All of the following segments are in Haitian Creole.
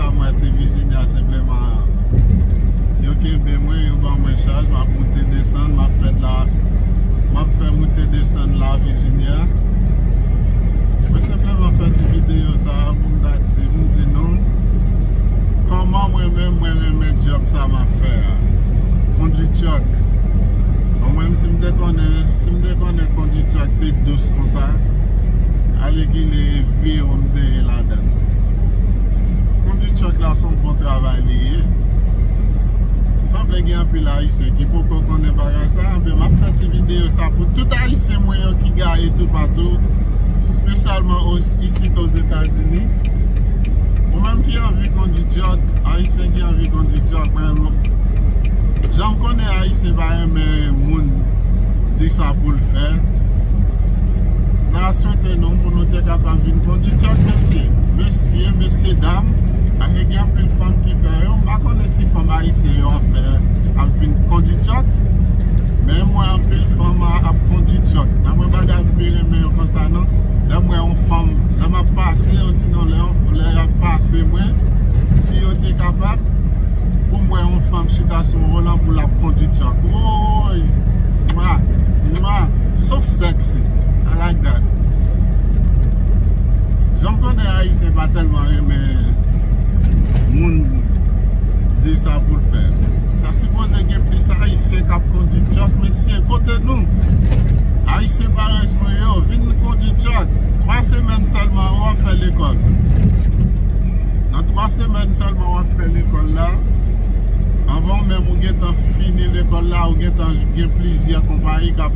Sa mwen se Virginia senpleman yo kenbe mwen yo ban mwen chaj map moute desann map fè la map fè moute desann la Virginia mwen senpleman fè ti video sa pou m ta di pou m di nou kòman mwen menm mwen renmen dyòb sa map fè a kondwi tyòk bon mwen si m te konnen si m te konnen kondwi tyòk te dous konsa alegile vi ou m te ye la. Mèt Kondi truck la son bon travay li ye Sanble gen anpil ayisyen ki poko konnen bagay sa Ebyen map fè ti video sa pou tout ayisyen mwen yo ki gaye tou patou Spesyalman isit ozetazini Ou menm ki anvi kondi truck Ayisyen ki anvi kondi truck men Janm konnen ayisyen pa renmen moun di sa poul fè Nan swete non pou nou te kapab vin konditè mesye mesye mesye dam ane gen anpil fanm ki fè yo m pa konnen si fanm ayisyen yo ap fè ap vin konditè men m wè anpil fanm ap konditè nan mwen pa ta pi renmen yo konsa nan lè m wè yon fanm lè m ap pase yo si non lè yon lè y ap pase mwen si yo te kapab pou m wè yon fanm chita sou yon volan pou l ap konditè ooyy mwa mwa sof sèks Ayiti. I like that. Janm konnen ayisyen pa telman renmen moun di sa poul fè. Ta sipoze gen plis ayisyen kap kondi truck mesye kote nou? Ayisyen parèy mwen yo vin kondi truck 3 semèn selman wap fè lekòl. Nan 3 semèn selman wap fè lekòl la anvan menm ou gentan fini lekòl la ou gentan gen plizyè konpayi kap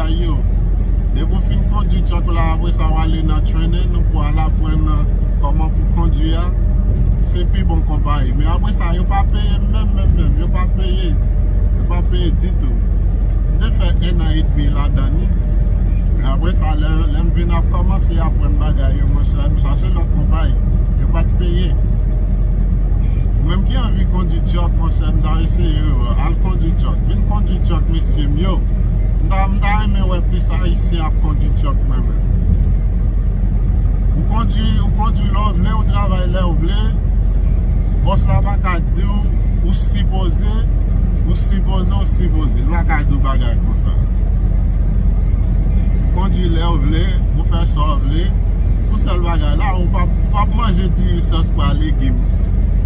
bagay yo. Depi w fin kondwi truck ou la apre sa w ale nan training ou pou al aprann kòman pou kondwi a, se pi bon konpayi. Men apre sa yo pa peye menm menm menm. Yo pa peye. Yo pa peye ditou. M te fè 1 an edmi ladan li. Apre sa lè m vin ap kòmanse aprann bagay yo mwen chache lòt konpayi. Yo pa t peye. Ou menm ki anvi kondwi truck monchè m ta eseye w. Al kondwi truck. Vin kondwi truck mesye m yo. M ta m ta renmen wè plis ayisyen ap kondi truck mwen menm. Ou kondi ou kondi lè w vle ou travay lè w vle boss la pa ka diw ou sipoze ou sipoze ou sipoze li pa ka diw bagay konsa. Ou kondi lè w vle ou fè sa w vle pou sèl bagay la ou pap ou pap manje diri sòs pwa legim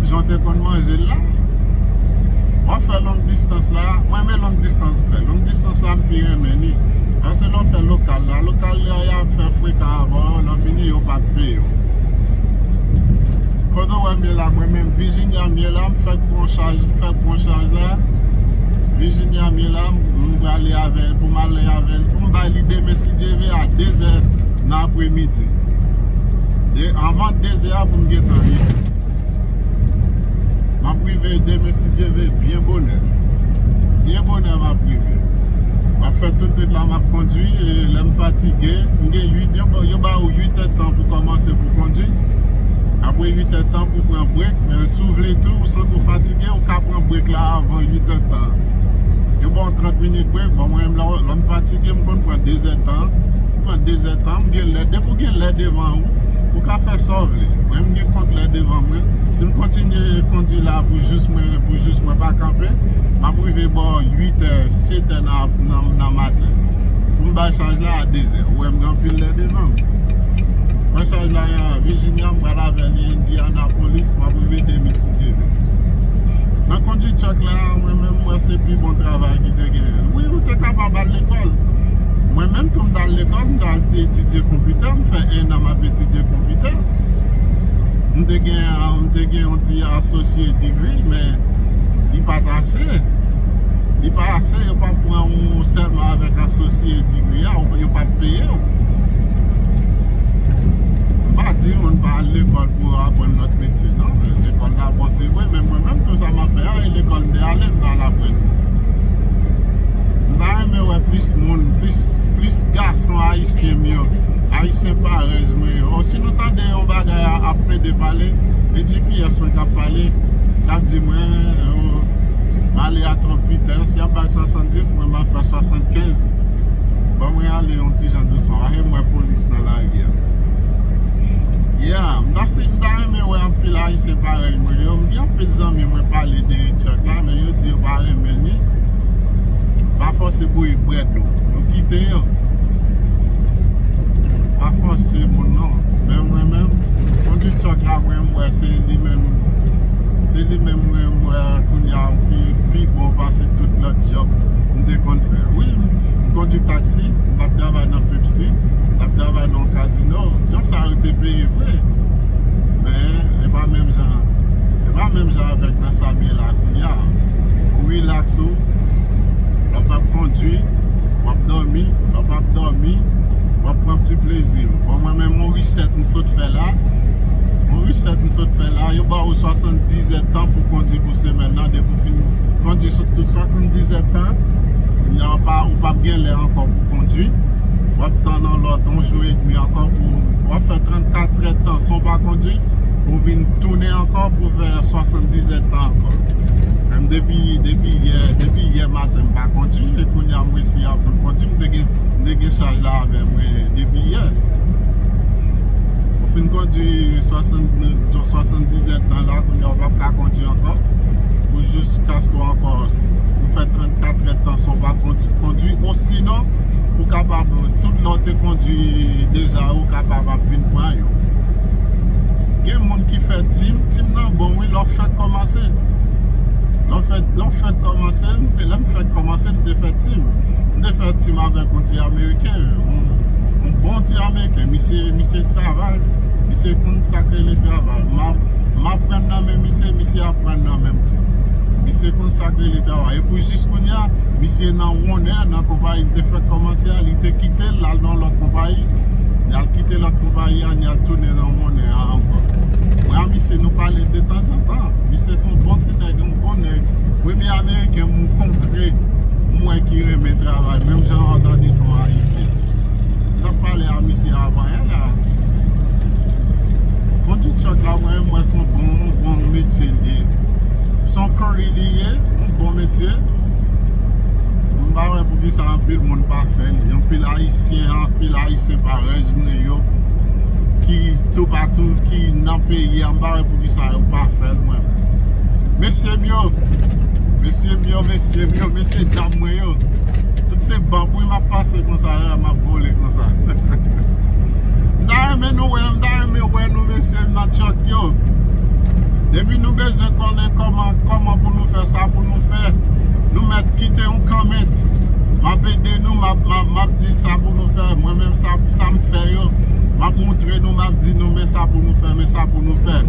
jan w te konn manje l la. Wap fè long distans la. A, mwen renmen long distans ou fè. Long distans la m pi renmen li. Paske lè w fè lokal la, lokal la y ap fè frekan avè w, lè w fini yo pa p peye w. Kote w wè m ye la, mwen menm Virginia m ye la, m fèk pran chaj, m fèk pran chaj la. Virginia m ye la, m prale avè l, pou m ale avè l. Pou m bay li demen si Dye ve a dezè nan apremidi. Avan dezè a pou m gentan rive. Map rive demen si Dye ve byen bonè Byen bonè map rive Map fè tout wout la map kondwi e lèm fatige m gen 8 yo ba ou 8 è tan pou kòmanse pou kondwi apre 8 è tan pou pran brek men si w vle tou ou santi w fatige ou ka pran brek la avan 8 è tan yo ba w 30 minit brek bon mwen menm lèm fatige m konn pran 2 è tan. pran 2 zè tan, m gen lè, depi w gen lè devan ou, ou ka fè sa w vle, mwen m gen kont lè devan mwen, si m kontinye kondi la pou jous mwen, pou jous mwen pa kanpe, m ap rive bò 8 è, 7 è nan maten, pou m bay chaj la a 2 zè, ou wè m gen anpil lè devan m, pran chaj la a Virginia, m pral avè li Indianapolis, m ap rive demen si Dye vle. Nan kondi truck la, mwen menm m wè se pi bon travay ki te genyen, wi ou te kapab al lekòl, Mwen menm tou m t al lekòl, m t al te etidye konpitè, m fè ennan m ap etidye konpitè. M te gen m te gen yon ti associate degree men li pa t ase. Li pa ase, yo pa pran ou sèlman avèk associate degree a, yo pa p peye w. M pa di moun pa al lekòl pou yo aprann lòt metye non, lekòl la bon se vre men mwen menm tou sa m ap fè a e lekòl m te ale m t al aprann li. m ta renmen wè plis moun plis gason ayisyen m yo ayisyen parèy mwen yo si nou tande yon bagay ap plede pale e gps mwen kap pale kap di mwen m ale a twòp vitès yap bay 70 mwen m ap fè 75 ban mwen ale yon ti jan dousman paske m wè polis nan lari a yeah m ta renmen wè anpil ayisyen parèy mwen yo m gen anpil zanmi mwen pale de truck la men yo di yo pa renmen li Pa fòse bouyi bwèt ou. Nou kite yo. Pa fòse moun non. Men mwen menm, kondi tròk la mwen mwen wè se li menm, se li menm mwen mwen wè kounye a ki pi bon pase tout lòt jòb m te konn fè. Wi, m kondi taksi, m t ap travay nan Pepsi, m t ap travay nan yon kazino. Jòb sa yo te peye vre. Men, e pa menm jan, e pa menm jan avèk nan sa m ye la kounye a. Relax ou, lè w ap kondwi, w ap dòmi, lè w pap dòmi, w ap pran ti plezi ou. Bon mwen menm yon reset m sot fè la, yon reset m sot fè la, yo ba ou 70 è tan pou kondwi pou semèn nan, depi w fin kondwi sou tout 70 è tan, kounye a ou pap gen lè ankò pou kondwi, w ap tann yon lòt yon jou edmi ankò pou, w ap fè 34 è tan san w pa kondwi, pou w vin tounen ankò pou w fè. Nan 70 et tan ankò. Menm depi depi yè depi yè maten m pa kondi e kounye a m resi aprann kondi m te gen m te gen chaj la avè mwen depi yè. Ou fin kondi 70 et tan la kounye a ou pap ka kondi ankò pou jis kaske ou ankò ou fè 34 et tan san ou pa kondi osinon ou kapab tout lè ou te kondi deja ou kapab ap vin pran yo. Gen moun ki fè team, team nan bon wi lè w fèk kòmanse Lè w fèk, lè w fèk kòmanse, m te, lè m fèk kòmanse m te fè team M te fè team avèk yon ti ameriken yon, yon bon ti ameriken Misye, misye travay, misye konn sa k rele travay M ap, m ap aprann nan men misye, misye aprann nan men m tou Misye konn sa k rele travay E pou jis kounye a, misye nan wonè nan konpayi m te fèk kòmanse a Li te kite l, l al nan yon lòt konpayi Li al kite lòt konpayi a Tania tounen nan monnen an ankò Bra misye nou pale detanzantan Misye son bon ti nèg yon bon nèg Premye ameriken m kontre m wè ki renmen travay menm jan an tande son ayisyen M tap pale a misye avan en la Kondwi truck la mwen m wè son bon yon bon metye l ye Son curry li ye yon bon metye M pa wè poukisa anpil moun pa fè l anpil ayisyen anpil ayisyen pa rèj. Ayisyen yo ki toupatou, ki nan peyi an, m pa wè poukisa yo pa fè l mwen menm. Mesye m yo, mesye m yo, mesye m yo, mesye dam mwen yo, tout se banm wi m ap pase konsa yo a, m ap vole konsa. M ta renmen nou wè, m ta renmen wè nou mesye m nan Truck yo. Depi nou bezwen konnen kòman, kòman pou nou fè sa pou nou fè, nou mèt kite yon comment. M ap ede nou, m ap di sa pou nou fè. fè mwen menm sa m fè yo m ap moutre nou m ap di nou men sa pou nou fè men sa pou nou fè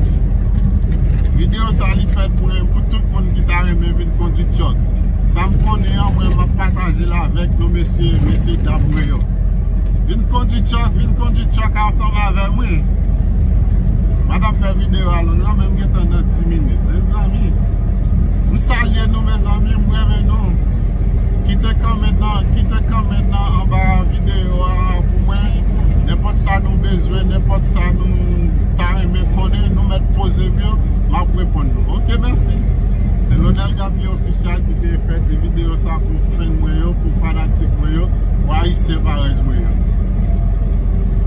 video sa li fèt pou tout moun ki ta renmen vin kondwi truck sa m konnen an mwen m ap pataje l avèk nou mesye mesye dam mwen yo vin kondwi truck vin kondwi truck ansanm avè mwen m pa ta fè video a long nan men m gentan nan 10 minit mezanmi m salye nou mezanmi m renmen nou. Kite kòment nan Kite kòment nan anba videyo a pou mwen Nenpòt sa nou bezwen Nenpòt sa nou ta renmen konnen Nou mèt poze m yo M ap reponn nou Ok mèsi Se Lonel Gaby Official ki te fè ti videyo sa pou fèn mwen yo Pou fanatik mwen yo Pou ayisyen parèy mwen yo.